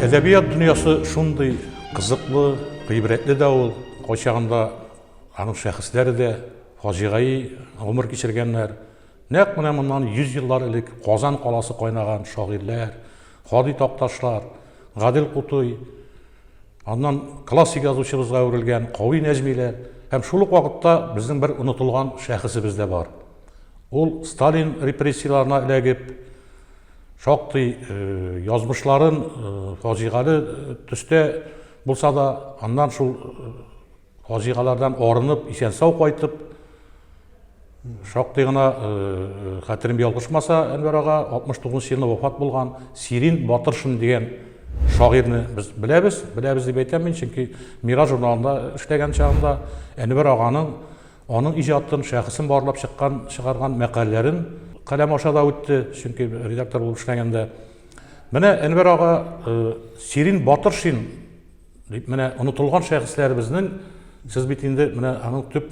әдәбият дөньясы шундый кызыклы гыйбрәтле дә ул кайчагында аның шәхесләре дә фаҗигаи гомер кичергәннәр Нәкъ менә моннан 100 еллар элек Казан каласы кайнаган шагыйрьләр, Һади Такташлар, Гадел Кутуй, аннан классик язучыбызга әверелгән Кави Нәҗмиләр һәм шул ук вакытта безнең бер онытылган шәхесебез дә бар. Ул Сталин репрессияләренә эләгеп, шактый э, язмышларын э, фаҗигале төстә булса да, аннан шул э, Фаҗигалардан арынып, исән-сау кайтып, шактый гына хәтерем ялгышмаса, Әнвәр ага 69 нчы елны вафат булган Сирин Батыршин дигән шагыйрьне без беләбез. Беләбез дип әйтәм мин, чөнки Мираж журналында эшләгән чагында Әнвәр аганың аның иҗатын, шәхесен барлап чыккан, чыгарган мәкаләләрен каләм аша да үтте, чөнки редактор булып эшләгәндә. Менә Әнвәр ага Сирин Батыршин Дип менә онытылган шәхесләребезнең сез бит инде менә аның төп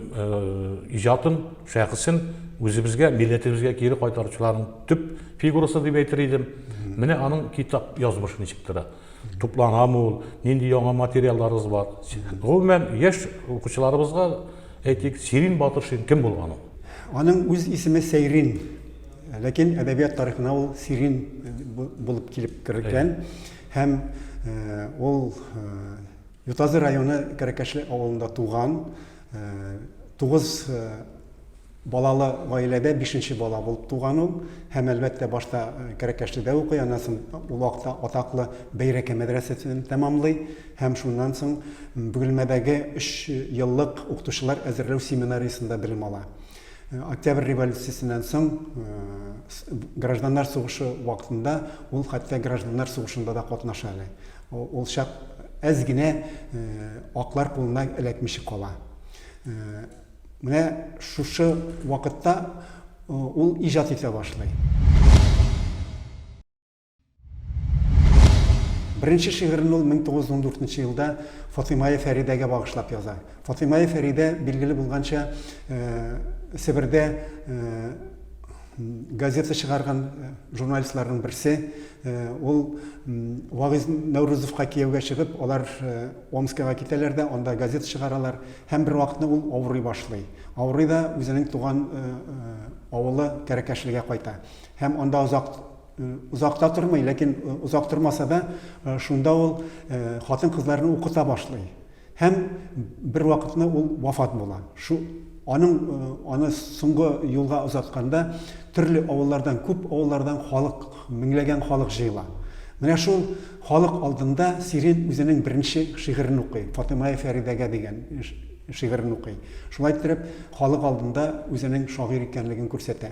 иҗатын, шәхесен үзебезгә, милләтебезгә кире кайтаручыларның төп фигурасы дип әйтер идем. Менә аның китап язмышы ничек тора. Тупланамы ул, нинди яңа материалларыбыз бар. Гомумән, яшь укучыларыбызга әйтик, Сирин Батыршин кем булган ул? Аның үз исеме Сәйрин. Ләкин әдәбият тарихына ул Сирин булып килеп кергән. Һәм ул Ютазы районы Кәрәкәшле авылында туган, тугыз балалы гаиләдә бишенче бала булып туган ул. Һәм, әлбәттә, башта Кәрәкәшледә укый, аннан соң ул вакытта атаклы Бәйрәкә мәдрәсәсен тәмамлый. Һәм шуннан соң Бөгелмәдәге өч еллык укытучылар әзерләү семинариясендә белем ала. Октябрь революциясеннән соң гражданнар сугышы вакытында ул хәтта гражданнар сугышында да катнаша әле. Ул чак әз генә аклар кулына эләкмичә кала. Менә шушы вакытта ул иҗат итә башлый. Беренче шигырен ул 1914 елда Фатыймая Фәридәгә багышлап яза. Фатыймая Фәридә, билгеле булганча, Себердә газета чыгарган журналистларның берсе. Ул Вагыз Нәүрүзовка кияүгә чыгып, алар Омскага китәләр дә, анда газета чыгаралар. Һәм бер вакытны ул авырый башлый. Авырый да үзенең туган авылы Кәрәкәшлегә кайта. Һәм анда озак Озак та тормый, ләкин озак тормаса да, шунда ул хатын-кызларны укыта башлый. Һәм бер вакытны ул вафат була. Шу аның аны соңгы юлга озатканда төрле авыллардан, күп авыллардан халык, меңләгән халык җыела. Менә шул халык алдында Сирин үзенең беренче шигырен укый, Фатыймая Фәридәгә дигән шигырен укый. Шулай иттереп, халык алдында үзенең шагыйрь икәнлеген күрсәтә.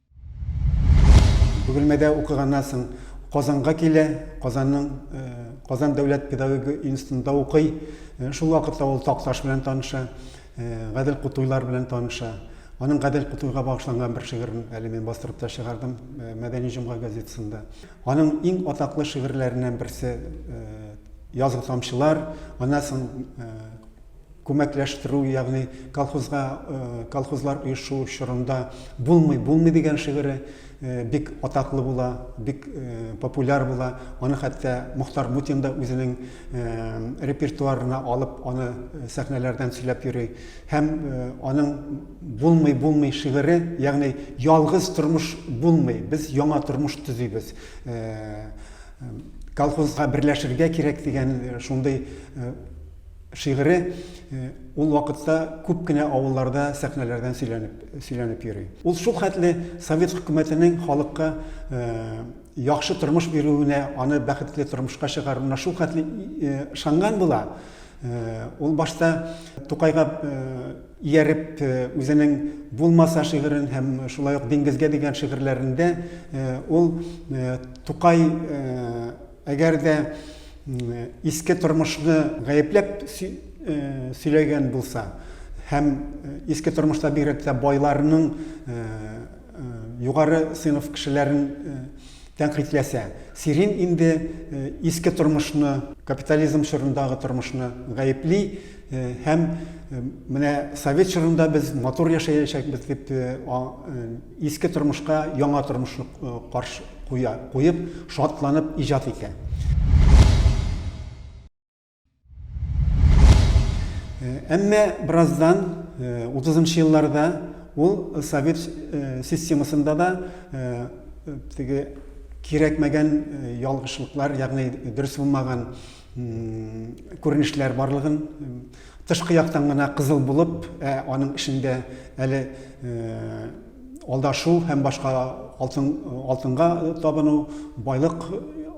Бөгелмәдә укыганнан соң Казанга килә, Казанның э, Казан дәүләт педагогия институтында укый. Э, шул вакытта ул Такташ белән таныша, э, Гадел Кутуйлар белән таныша. Аның Гадел Кутуйга багышланган бер шигырен әле мин бастырып та чыгардым Мәдәни җомга газетасында. Аның иң атаклы шигырьләреннән берсе Язгы тамчылар, аннан соң Күмәкләштерү, ягъни колхозга, колхозлар оешу чорында булмый, булмый дигән шигыре бик атаклы була, бик популяр була. Аны хәтта Мохтар Мутин да үзенең репертуарына алып, аны сәхнәләрдән сөйләп йөри. Һәм аның булмый, булмый шигыре, ягъни ялгыз тормыш булмый, без яңа тормыш төзибез колхозга берләшергә кирәк дигән э, шундый э, Шигыре ул вакытта күп кенә авылларда сәхнәләрдән сөйләнеп, сөйләнеп йөри. Ул шул хәтле совет хөкүмәтенең халыкка яхшы тормыш бирүенә, аны бәхетле тормышка чыгаруына шул хәтле ышанган була, ул башта Тукайга ияреп үзенең Булмаса шигырен һәм шулай ук Диңгезгә дигән шигырьләрендә ул Тукай Әгәр дә иске тормышны гаепләп сөйләгән булса һәм иске тормышта бигрәк тә байларның югары сыйныф кешеләрен тәнкыйтьләсә, Сирин инде иске тормышны, капитализм чорындагы тормышны гаепли, Һәм менә совет чорында без матур яшәячәкбез дип иске тормышка яңа тормышны каршы куя, куеп, шатланып иҗат итә. Әмма бераздан 30-нчы елларда ул совет системасында да теге кирәкмәгән ялгышлыклар, ягъни дөрес булмаган күренешләр барлыгын тышкы яктан гына кызыл булып, ә аның эчендә әле алдашу һәм башка алтын алтынга табыну, байлык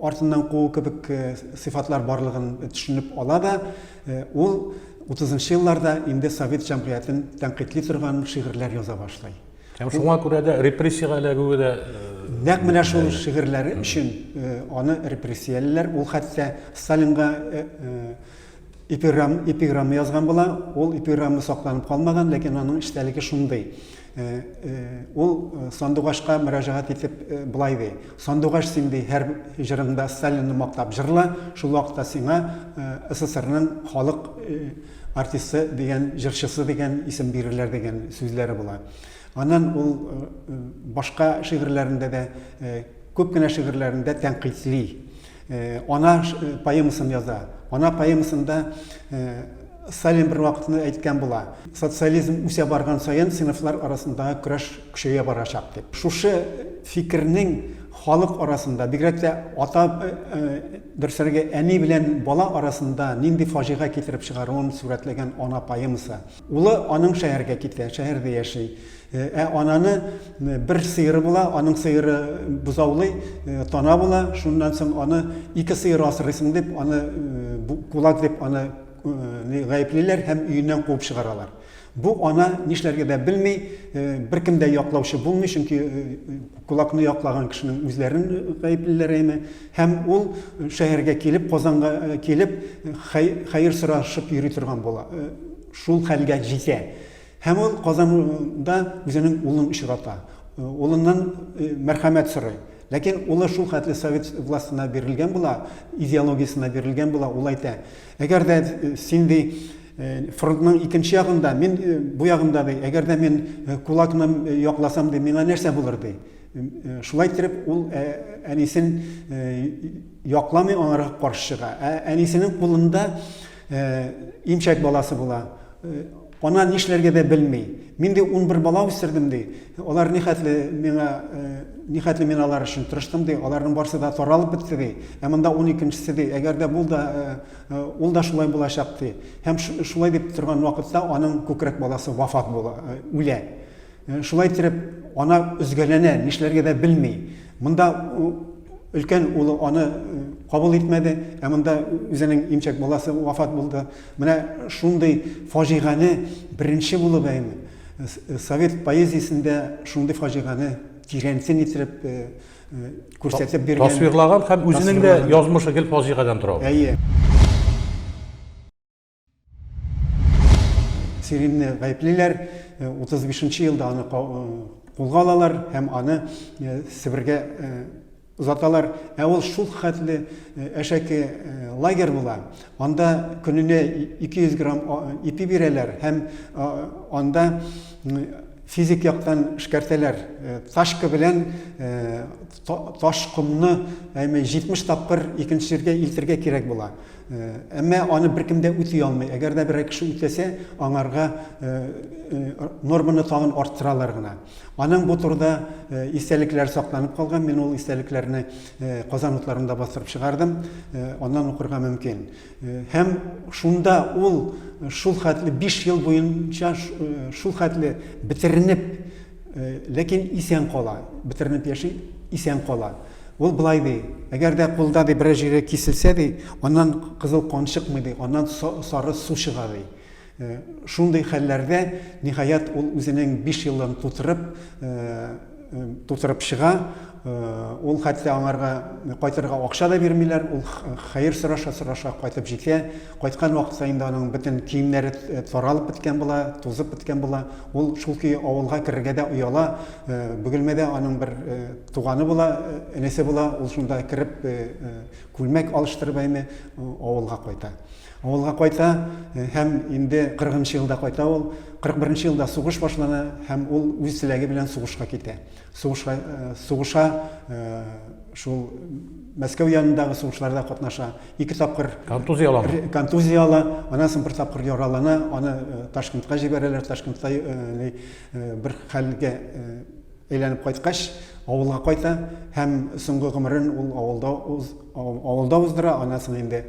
артыннан куу кебек э, сыйфатлар барлыгын төшенеп ала да, э, ул 30 елларда инде совет җәмгыятен тәнкыйтьли торган шигырьләр яза башлый. Һәм шуңа күрә дә репрессиягә эләгүе дә э, нәкъ менә шул шигырьләре өчен э, аны репрессиялиләр. Ул хәтта Сталинга э, эпиграмм эпиграмма язган була. Ул эпиграмма сакланып калмаган, ләкин аның эчтәлеге шундый. Ул Сандугашка мөрәҗәгать итеп былай ди: "Сандугаш син ди һәр җырыңда Сталинны мактап җырла, шул вакытта сиңа СССРның халык Артисты дигән, җырчысы дигән исем бирерләр дигән сүзләре була. Аннан ул башка шигырьләрендә дә, күп кенә шигырьләрендә тәнкыйтьли. Ана поэмасын яза. Ана поэмасында Сталин бер вакытны әйткән була. Социализм үсә барган саен сыйныфлар арасындагы көрәш көчәя барачак дип. Шушы фикернең Халык арасында, бигрәк тә ата, бер сорагы әни белән бала арасында нинди фаҗига китереп чыгаруын сурәтләгән Ана поэмасы. Улы аның шәһәргә китә, шәһәрдә яши. Ә ананы бер сыеры була, аның сыеры бозаулый, тана була, шуннан соң аны ике сыер асрыйсың дип, аны кулак дип аны гаеплиләр һәм өеннән куып чыгаралар. Бу ана нишләргә дә белми, беркем дә яклаучы булмый, чөнки кулакны яклаган кешенең үзләрен гаеплиләр әйме. Һәм ул шәһәргә килеп, Казанга килеп, хәер сорашып йөри торган була. Шул хәлгә җитә. Һәм ул Казанда үзенең улын очрата. Улыннан мәрхәмәт сорый. Ләкин улы шул хәтле совет властена бирелгән була, идеологиясенә бирелгән була, ул әйтә, әгәр дә син, ди, Фронтның икенче ягында, мин бу ягында, ди. Әгәр дә мин кулакны якласам, ди, миңа нәрсә булыр, ди. Шулай итеп, ул әнисен якламый, аңарга каршы чыга. Ә әнисенең кулында имчәк баласы була. Ана нишләргә дә белми. Мин ди 11 бала үстердем ди. Алар ни хәтле миңа ни хәтле мин алар өчен тырыштым ди. Аларның барсы да таралып бетте ди. Ә монда 12 нчесе ди. Әгәр дә бул да Ул да шулай булачак, ди. Һәм шулай дип торган вакытта аның күкрәк баласы вафат була, үлә. Шулай иттереп, ана өзгәләнә, нишләргә дә белми. Монда өлкән улы аны кабул итмәде, ә монда үзенең имчәк баласы вафат булды. Менә шундый фаҗигане беренче булып әйме совет поэзиясендә шундый фаҗигане тирәнсен иттереп күрсәтеп биргән тасвирлаган һәм үзенең дә язмышы гел фаҗигадан тора әйе сиримне гаеплиләр 35 э, нче елда аны кулга э, алалар һәм аны э, себергә озаталар ә ул шул хәтле әшәке лагерь була анда көненә 200 грамм ипи бирәләр һәм анда Физик яктан эшкәртәләр. Тачка белән таш, комны, әйме, 70 тапкыр икенче җиргә илтергә кирәк була. Әмма аны беркем дә үти алмый. Әгәр дә берәр кеше үтәсә, аңарга норманы тагын арттыралар гына. Аның бу турыда истәлекләре сакланып калган. Мин ул истәлекләрне Казан утларында бастырып чыгардым. Аннан укырга мөмкин. Һәм шунда ул шул хәтле биш ел буенча шул хәтле бетеренеп, ләкин исән кала, бетеренеп яши, исән кала. Ул былай ди, әгәр дә кулда ди берәр җире киселсә ди, аннан кызыл кан чыкмый ди, аннан сары су чыга ди. Шундый хәлләрдә, ниһаять, ул үзенең биш елын тутырып, тутырып чыга. Ул хәтта аңарга кайтырга акча да бирмиләр. Ул хәер сораша-сораша кайтып җитә. Кайткан вакытта инде аның бөтен киемнәре таралып беткән була, тузып беткән була. Ул шул көе авылга керергә дә ояла. Бөгелмәдә аның бер туганы була, энесе була. Ул шунда кереп, күлмәк алыштырып, әйме, авылга кайта. Авылга кайта һәм инде кырыгынчы елда кайта ул. Кырык беренче елда сугыш башлана һәм ул үз теләге белән сугышка китә. Сугышка сугыша шул Мәскәү янындагы сугышларда катнаша. Ике тапкыр контузия ала. Контузия ала. Аннан соң бер тапкыр яралана, аны Ташкентка җибәрәләр. Ташкентта бер хәлгә Әйләнеп кайткач, авылга кайта һәм соңгы гомерен ул авылда уз, авылда уздыра, аннан соң инде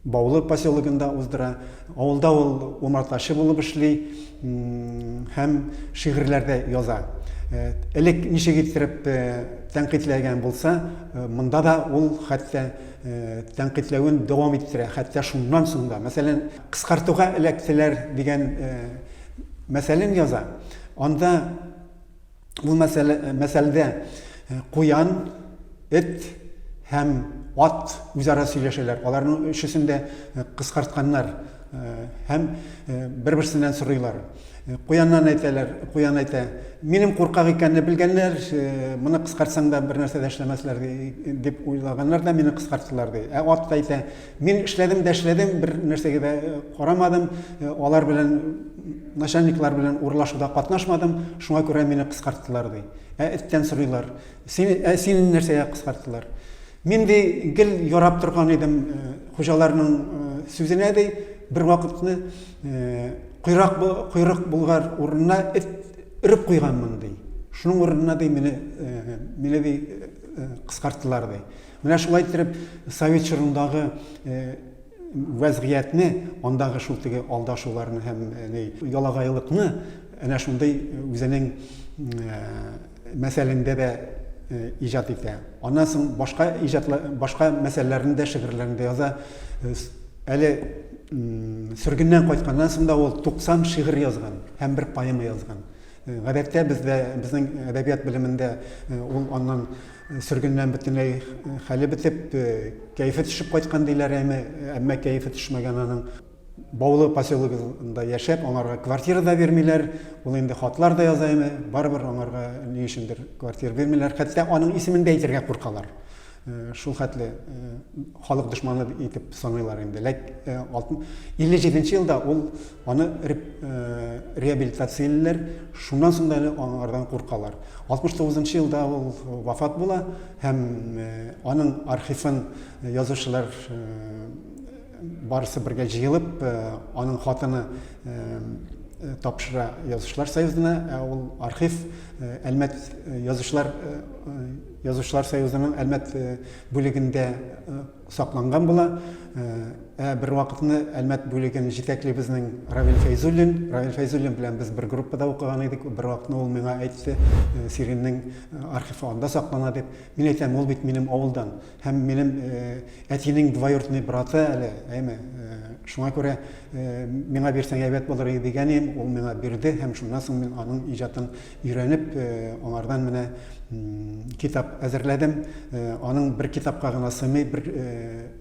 Баулы поселогында уздыра. Авылда ул умартачы булып эшли һәм шигырьләрдә яза. Элек ничек иттереп тәнкыйтьләгән булса, монда да ул хәтта тәнкыйтьләвен дәвам иттерә, хәтта шуннан соң да. Мәсәлән, кыскартуга эләктеләр дигән мәсәлен яза. Анда ул мәсәлдә куян, эт һәм ат үзара сөйләшәләр. Аларның өчесен дә кыскартканнар һәм бер-берсеннән сорыйлар. Куяннан әйтәләр, куян әйтә, минем куркак икәнне белгәннәр, моны кыскартсаң да бер нәрсә дә эшләмәсләр дип уйлаганнар да мине кыскарттылар ди. Ә ат та әйтә, Мин эшләдем дә эшләдем, бер нәрсәгә дә э, карамадым, э, алар белән начальниклар белән урлашуда катнашмадым, шуңа күрә мине кыскарттылар ди. Ә эттән сорыйлар. Син ә син нәрсәгә кыскарттылар? Мин ди гел ярап торган идем э, хуҗаларның сүзенә ди, бер вакытны койрак койрык булгар урынына эт өреп куйганмын ди. Шуның урынына ди мине мине ди кыскарттылар ди. Менә шулай иттереп, совет чорындагы вәзгыятьне, андагы шул теге алдашуларны һәм ялагайлыкны әнә шундый үзенең мәсәлендә дә иҗат итә. Аннан соң башка иҗатлы башка мәсьәләләрне дә шигырьләрендә яза. Әле сөргеннән кайтканнан соң да ул 90 шигырь язган һәм бер поэма язган. Гадәттә бездә безнең әдәбият белемендә ул аннан Сөргеннән бөтенләй хәле бетеп, кәефе төшеп кайткан диләр, әмма, әмма кәефе төшмәгән аның. Баулы поселогында яшәп, аңарга квартира да бирмиләр. Ул инде хатлар да яза, әмма барыбер аңарга ни өчендер квартира бирмиләр. Хәтта аның исемен дә әйтергә куркалар. Шул хәтле халык дошманы итеп саныйлар инде. Ләк 57 нче елда ул Аны реабилитациялиләр, шуннан соң да әле аңардан куркалар. 69 нчы елда ул вафат була һәм аның архивын язучылар барысы бергә җыелып, аның хатыны тапшыра язучылар союзына, ә ул архив Әлмәт язучылар язучылар союзының Әлмәт бүлегендә сакланган була. Ә бервакытны Әлмәт бүлеген җитәкли безнең Равил Фәйзуллин. Равил Фәйзуллин белән без бер группада укыган идек. Бервакытны ул миңа әйтте, Сириннең архивы анда саклана дип. Мин әйтәм, ул бит минем авылдан. Һәм минем әтинең двоюродный браты әле, әйме. Шуңа күрә миңа бирсәң әйбәт булыр иде дигән идем, ул миңа бирде һәм шуннан соң мин аның иҗатын Өйрәнеп, аңардан менә китап әзерләдем. Аның бер китапка гына сыймый, бер,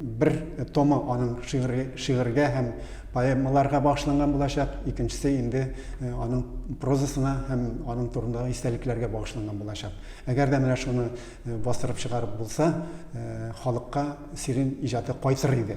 бер томы аның шигырь, шигырьгә һәм поэмаларга багышланган булачак, икенчесе инде аның прозасына һәм аның турындагы истәлекләргә багышланган булачак. Әгәр дә менә шуны бастырып чыгарып булса, халыкка Сирин иҗаты кайтыр иде.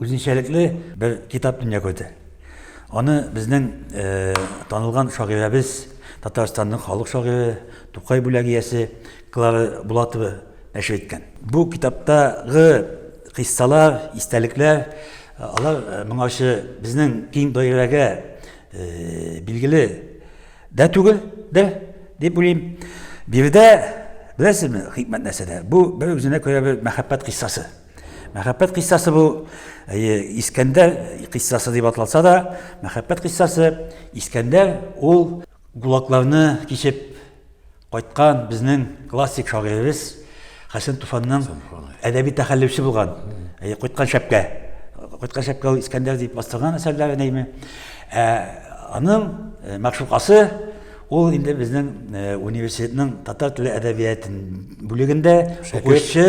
Үзенчәлекле бер китап дөнья күрде. Аны безнең э, танылган шагыйрәбез, Татарстанның халык шагыйре, Тукай бүләк иясе Клара Булатова нәшер иткән. Бу китаптагы кыйссалар, истәлекләр, э, алар э, моңарчы безнең киң даирәгә э, билгеле дә түгел дә, дип уйлыйм. Биредә, беләсезме, хикмәт нәрсәдә? Бу бер үзенә күрә бер мәхәббәт кыйссасы. Мәхәббәт кыйссасы бу, әйе, Искәндәр кыйссасы дип атласа да, мәхәббәт кыйссасы Искәндәр ул гулакларны кичеп кайткан безнең классик шагыйребез Хәсән Туфанның әдәби тәхәллүсе булган, әйе, кайткан шәпкә. Кайткан шәпкә ул Искәндәр дип бастырган әсәрләре, әйеме. Ә аның мәгъшукасы Ул инде безнең э, университетның татар теле әдәбияты бүлегендә укучы,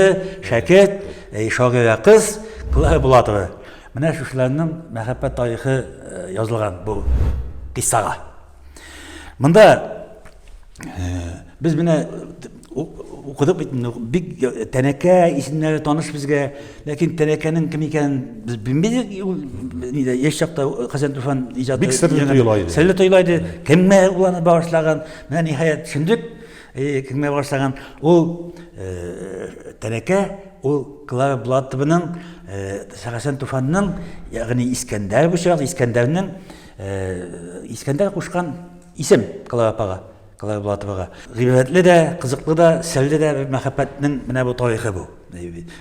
шәкерт, э, шагыйрә кыз Клара Булатова. Менә шушыларның мәхәббәт тарихы э, язылган бу киссага. Монда без менә Укыдык бит, бик тәнәкә исемнәре таныш безгә, ләкин тәнәкәнең кем икәнен без белмидек. Нидә яшь чакта Хәсән Туфан иҗаты бик серле тоела иде. Серле тоела иде. Кемгә ул аны багышлаган? Менә ниһаять төшендек. Кемгә багышлаган? Ул тәнәкә ул Клара Булатованың Хәсән Туфанның, ягъни Искәндәр бу чакта Искәндәрнең Искәндәр кушкан исем Клара апага. Клара Булатовага. Гыйбрәтле дә, кызыклы да, серле дә бер мәхәббәтнең менә бу тарихы бу.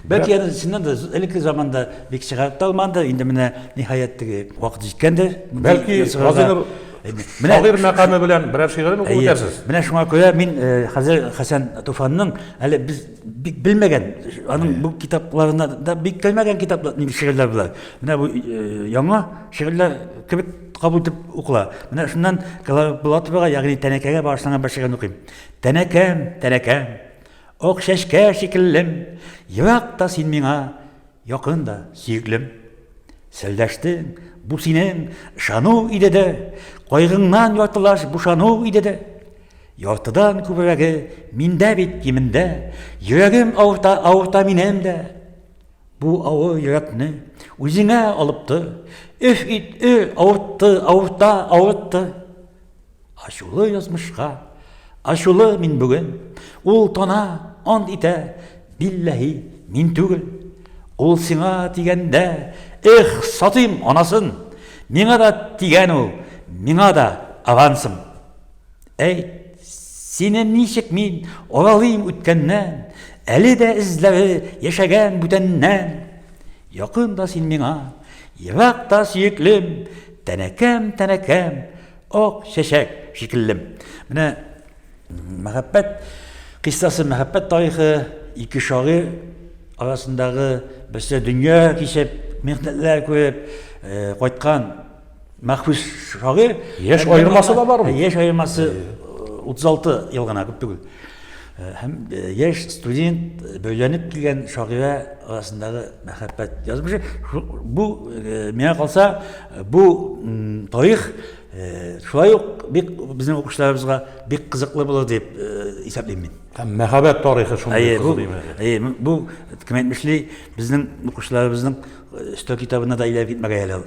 Бәлки аны чыннан да элекке заманда бик чыгарып та алмандыр, инде менә ниһаять теге вакыт җиткәндер. Бәлки Газинур шагыйрь мәкаме белән берәр шигырен укып үтәрсез. Менә шуңа күрә мин хәзер Хәсән Туфанның әле без бик белмәгән, аның бу китапларына да бик кермәгән китаплар, шигырьләр болар. Менә бу яңа шигырьләр кебек кабул итеп укыла. Менә шуннан Булатовага, ягъни тәнәкәгә багышланган бер шигырен укыйм. Тәнәкәм, тәнәкәм, ак чәчкә шикеллем, ерак та син миңа, якын да сөеклем. Сәлдәштең, бу синең ышану иде дә, кайгыңнан яртылаш бушану иде дә. Яртыдан күбрәге миндә бит кимендә, йөрәгем авырта, авырта минем дә. Бу авыр йөрәкне үзеңә алып тор. Өф ит, ө, авыртты, авырта, авыртты. Ачулы язмышка, ачулы мин бүген. Ул тона, ант итә, билләһи, мин түгел. Ул сиңа тигәндә, эх, сатыйм анасын. Миңа да тигән ул, миңа да авансым. Әйт, сине ничек мин алалыйм үткәннән, Әле дә эзләре яшәгән бүтәннән? Якын да син миңа, ерак та сөеклем, Тәнәкәм, тәнәкәм, ак чәчәк шикеллем. Менә мәхәббәт кыйссасы, мәхәббәт тарихы ике шагыйрь арасындагы берсе дөнья кичеп, михнәтләр күреп кайткан Мәхбүс шагыйрь. Яшь аермасы да бармы? Яшь аермасы 36 э, ел гына күп түгел. Э, һәм э, яшь студент бәйләнеп килгән шагыйрә арасындагы мәхәббәт язмышы. Бу миңа калса, бу тарих шулай ук бик безнең укучыларыбызга бик кызыклы булыр дип исәплим мин. Һәм мәхәббәт тарихы шундый кызык. Әйе, бу кем әйтмешли, безнең укучыларыбызның өстәл китабына да әйләнеп китмәгәе әле ул.